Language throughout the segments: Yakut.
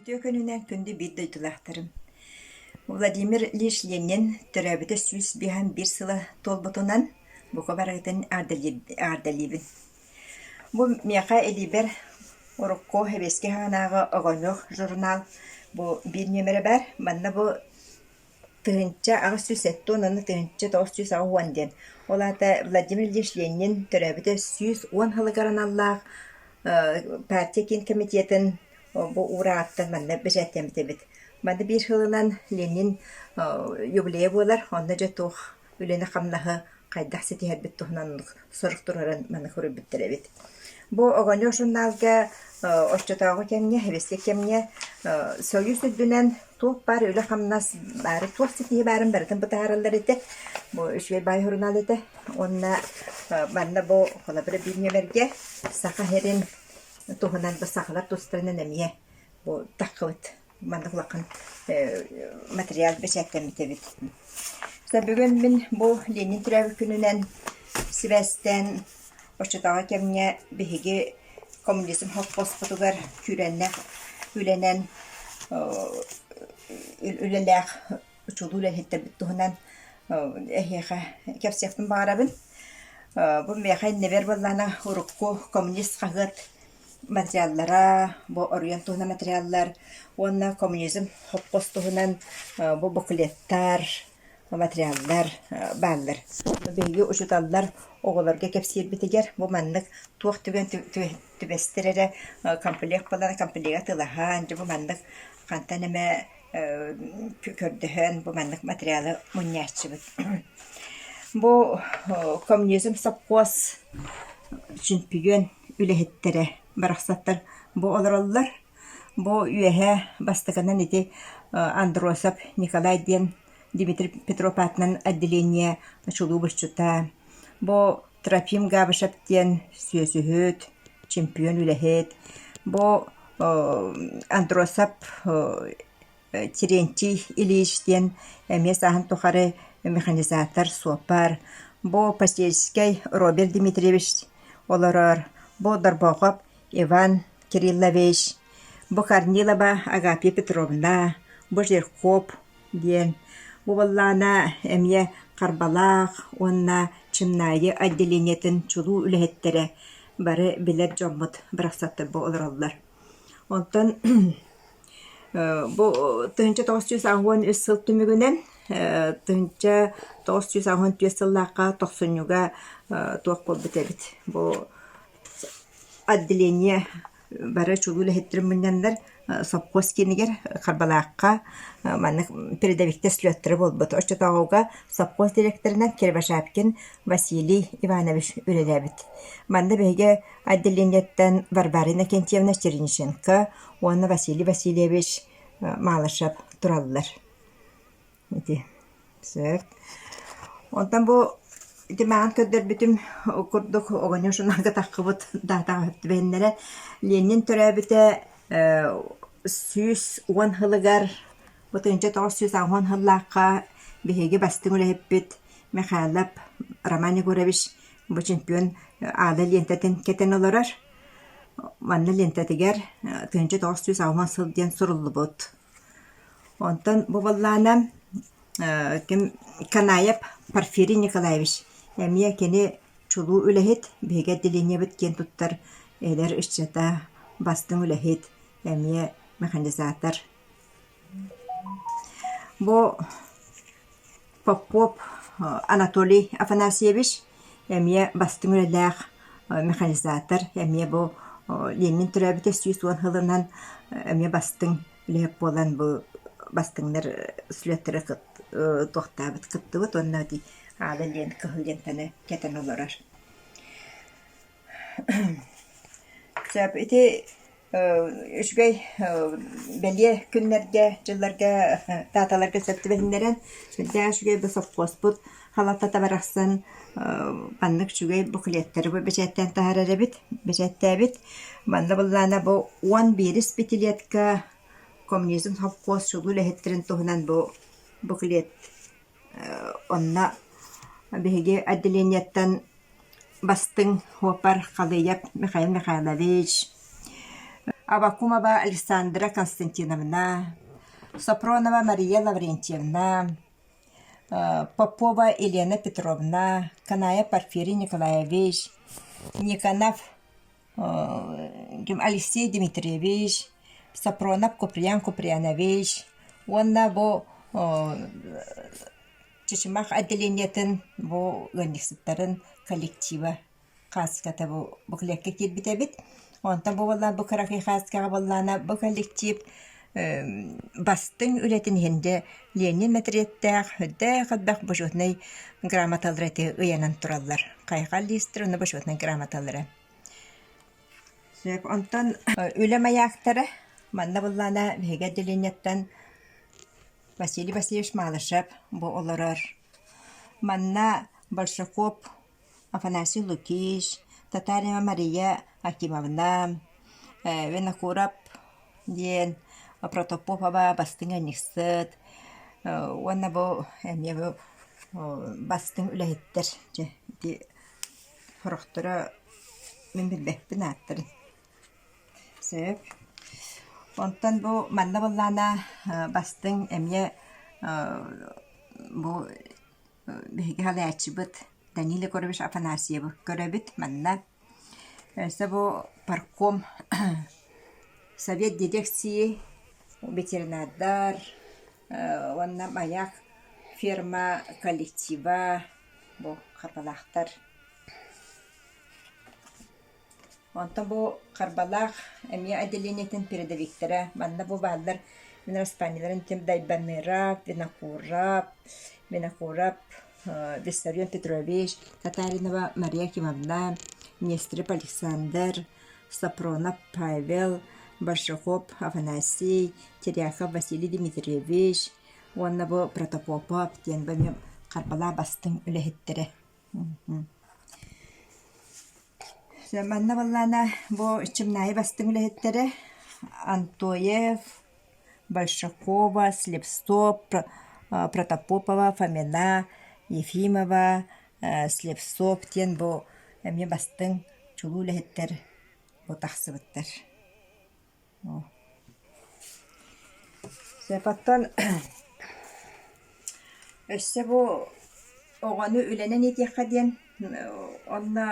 Үтүө күнүнэн күндү биир дойдулаахтарым. Владимир Ильич Ленин төрөөбүтэ сүүс биэһин биир сыла туолбутунан бука барыытын аардалиибин. Бу миэхэ илиибэр урукку Эбиэски хаанааҕы «Огонек» журнал бу биир нүөмэрэ баар. Манна бу тыһыынча аҕыс сүүс сэттэ уон уонна тыһыынча тоҕус сүүс аҕыс уон диэн. Ол аата Владимир Ильич Ленин төрөөбүтэ сүүс уон сылыгар аналлаах партия киин комитетын бу уура ааттан манна бэчээттэммит эбит. Манна биир сылынан Ленин юбилейа буолар, онно дьэ туох үлэни-хамнаһы хайдах ситиһэрбит туһунан сорук туруоран маны хоруйбуттар эбит. Бу Огонёр журналга оччотооҕу кэмҥэ, хэбиссик кэмҥэ Союз үрдүнэн туох баар үлэ-хамнас баары, туох ситиһии баарын барытын бытаараллар этэ. Бу үчүгэй баай сурунаал этэ. Уонна манна бу холобура бириэмэргэ Саха сирин туһунан бу сахалар тустарынан эмиэ бу таххыбыт. маннык улахан материал бэчээттэммит эбит. бүгүн мин бу Ленин төрөөбүт күнүнэн сибээстээн оччотооҕу кэмҥэ биһиги коммунизм холкуоспутугар күүрэннэх үлэнэн үлэлээх учулуу үлэһиттэрбит туһунан эһиэхэ кэпсиэхпин баҕарабын. бу миэхэ иннибэр буоллаана урукку коммунист хаһыат материаллара, бу оройуон туһунан материаллар уонна коммунизм хопкос туһунан бу буклеттар, материаллар бааллар. Биһиги учууталлар оҕолорго кэпсиирбитигэр бу маннык туох түгэн түбэстэр эрэ комплект буолан комплега атыылаһан дьэ бу маннык хантан эмэ көрдөһөн бу маннык материалы мунньааччыбыт. Бу коммунизм сопхуос чөмпүйүөн үлэһиттэрэ барахсаттар бу олороллор. Бу үөһэ бастакынан ити Андросов Николай диэн Дмитрий Петров аатынан отделение чулуу быччыта, бу Трофим Габышев диэн сүөсүһүт, чемпион үлэһит, бу Андросов Терентий Ильич диэн эмиэ сааһын тухары механизатор, суопар, бу Посельскай Роберт Дмитриевич олорор, бу Дорбохоп Иван Кириллович, бу Корнилова Агапия Петровна, бу Жирков диэн, бу буоллаана эмиэ Харбалаах уонна Чымнаайы отделениетын чулуу үлэһиттэрэ бары билэр дьоммут барахсаттар бу олороллор Оттон бу тыһыынча тоҕус сүүс аҕыс уон үс сыл түмүгүнэн тыһыынча тоҕус сүүс аҕыс уон түөрт сыллаахха тохсунньуга туох буолбут эбит бу отделение бары чулуу үлэһиттэрин мунньаннар сопхуос киинигэр Харбалаахха маннык передовиктар слеттара буолбут. Оччотооҕуга сопхуос дириэктэринэн Кирбашапкин Василий Иванович үлэлээбит. Манна биһиги отделениеттан Варварина Акинтьевна Черниченко уонна Василий Васильевич Малышев тураллар. Ити сөп. Онтон бу ити маан көрдөрбүтүм курдук оҕоньор шунарга таххыбыт даатаҕа түбэннэрэ Ленин төрөөбүтэ сүүс уон сылыгар ытынча тоҕус сүүс уон сыллаахха биһиги бастыҥ үлэһиппит Михайлов Роман Егорович бу чемпион аада лиэнтэтин кэтэн олорор. Манна лиэнтэтигэр тыһыынча тоҕус сүүс алма сыл диэн суруллубут. Онтон бу баллаанам ким Канаев Порфирий Николаевич эмиэ кини чулуу үлэһит, биһиги отделениебыт киэн туттар эдэр ыччата, бастыҥ үлэһит, эмиэ механизатор Бу Попов Анатолий Афанасьевич эмиэ бастыҥ үлэлээх механизатор, эмиэ бу Ленин төрөөбүтэ сүүс уон сылынан эмиэ бастыҥ үлэһит буолан бу бастыҥнар слеттары туохтаабыт кыттыбыт уонна ити аада диэн кыһыл лентаны кэтэн олорор. Сөп, ити үчүгэй бэлиэ күннэргэ, дьылларга тааталарга сөп түбэһиннэрэн, сүрдээх үчүгэй да сопхуоспут халалтата барахсан маннык үчүгэй буклеттары бу бэчээттээн таһаарар эбит, бэчээттээбит. Манна былаана бу уон биэс пятилетка коммунизм сопхуос чулуу үлэһиттэрин туһунан бу буклет Онно биһиги отделенияттан бастыҥ опер Халыйап Михаил Михайлович, Авакумова Александра Константиновна, Сопронова Мария Лаврентьевна, Попова Елена Петровна, Канаев Порфирий Николаевич, Никонов Алексей Дмитриевич, Сафронов Куприян Куприянович уонна бу Чычымах отделениетын бу ыанньыксыттарын коллектива хаацката бу буклетка киирбит эбит. Онтон бу буоллаан бу кыракый хаацкаҕа буоллаана бу коллектив бастыҥ үлэтин иһин дьэ Ленин отрядтаах үрдээх элбэх бочуотунай грамоталары ити ыйанан тураллар. Хайҕал листер уонна бочуотунай грамоталары. Сөп. Онтон үлэ маяктара манна быллаана биһиги отделенияттан Василий Васильевич Малышев бу олорор. Манна Большаков Афанасий Лукич, Татарина Мария Акимовна, Винокуров диэн Протопопова бастыҥ айанньыксыт уонна бу эмиэ бу бастыҥ үлэһиттэр дьэ ити сорохторо мин билбэппин ааттарын сөп онтон бу манна буоллаҕына бастыҥ эмиэ бу биһиги салайааччыбыт Данил Егорович Афанасьевы көрөбүт манна. Өссө бу парком совет дирекции, ветеринардар уонна маяк ферма коллектива бу хаталаахтар Онтон бу харбалаах эмиэ отделениетын передовиктара манна бу бааллар мин распаниеларын тим Дайбаныраап, Винокурап, Винокурап Виссарион Петрович, Татаринова Мария Акимовна, Нестеров Александр, Сапронов Павел, Большаков Афанасий, Теряхов Василий Дмитриевич уонна бу Протопопов диэн бу эмиэ харбалаа бастыҥ үлэһиттэрэ Манна буоллаана бу Чымнаайы бастыҥ үлэһиттэрэ Антоев, Большакова, Слепцов, Протопопова, Фомина, Ефимова, Слепцов диэн бу эмиэ бастыҥ чулуу үлэһиттэр бу тахсыбыттар Сепаттан өссө бу оҕону үлэнэн иитиэххэ диэн онно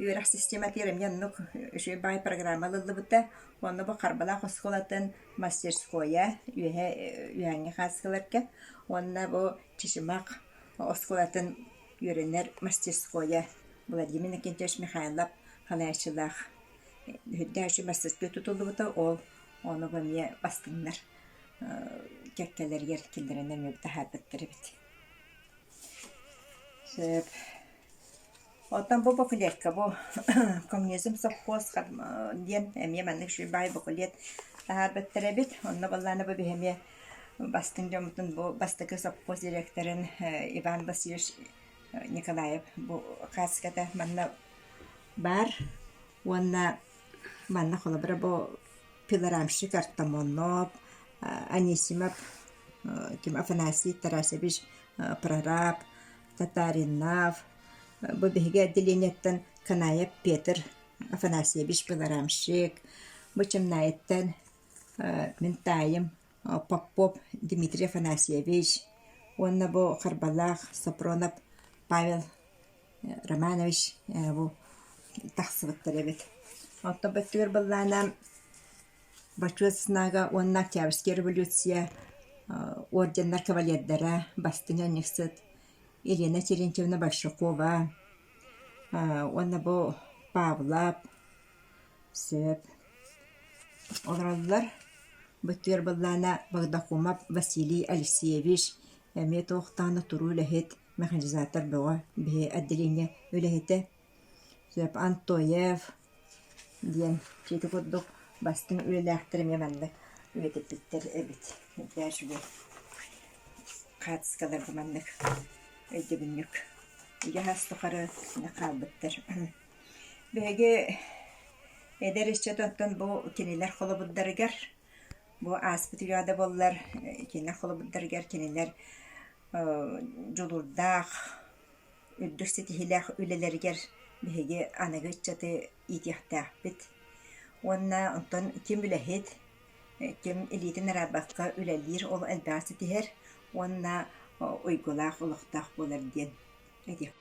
үөрэх систематыгар эмиэ оннук үчүгэй баай программа ылыллыбыта. Онно бу Харбалаах оскуолатын мастерскойа үөһэ үөһээҥҥи хааччыларга уонна бу Чычымах оскуолатын үөрэнэр мастерскойа Владимир Иннокентьевич Михайлов халааччылаах Үрдээччи бастакы тутуллубута, ол онугу эмиэ бастыҥнар кэккэлэригэр киллэрэн эмиэ таһаарбыттар эбит. Сөп. Оттон бу бакулетка бу Комнезем совхоз диэн эмиэ маннык сүрүн баай бакулет таһаарбыттар эбит. Онно буоллаана бу биһи эмиэ бастыҥ дьоммутун бу бастакы совхоз дириэктэрин Иван Васильевич Николаев бу кассиката манна баар уонна манна холобура бу пилорамщик Артамонов Анисимов ким Афанасий Тарасович прораб Татаринов бу биһиги отделениеттан Канаев Петр Афанасьевич пилорамщик бу чымнаайыттан мин таайым Попов Дмитрий Афанасьевич уонна бу Харбалаах Сапронов Павел Романович бу тахсыбыттар эбит. Оттон бу өттүгэр быллаана Бачыат Снага уонна Октябрьская революция орденнар кавалердара бастыҥа анньыксыт Елена Терентьевна Большакова уонна бу Павлов Сөп. Олороллор. Бытыар быллаана Багдакумов Василий Алексеевич эмиэ туохтаҕына туруу үлэһит, механизатор бөҕө, биһи отделение үлэһитэ. Сөп. Антоев диэн чиити курдук бастыҥ үлэлээхтэр эмиэ маннык үлэтиппиттэр эбит. Үрдээш бу хаартыскаларга маннык өйдөбүнньүк үгэһ ас тухары хаалбыттар. Биһиги эдэр ыччат оттон бу кинилэр холобурдарыгар бу ааспыт үйэ да буоллар кинилэр холобурдарыгар кинилэр дьулуурдаах, үрдүк ситиһиилээх үлэлэригэр биһиги аныгы ыччаты иитиэхтээхпит. Уонна онтон ким үлэһит, ким илиитин араабакка үлэлиир ол элбэҕи ситиһэр уонна уйгулаах олохтоох буолар диэн этиэхпин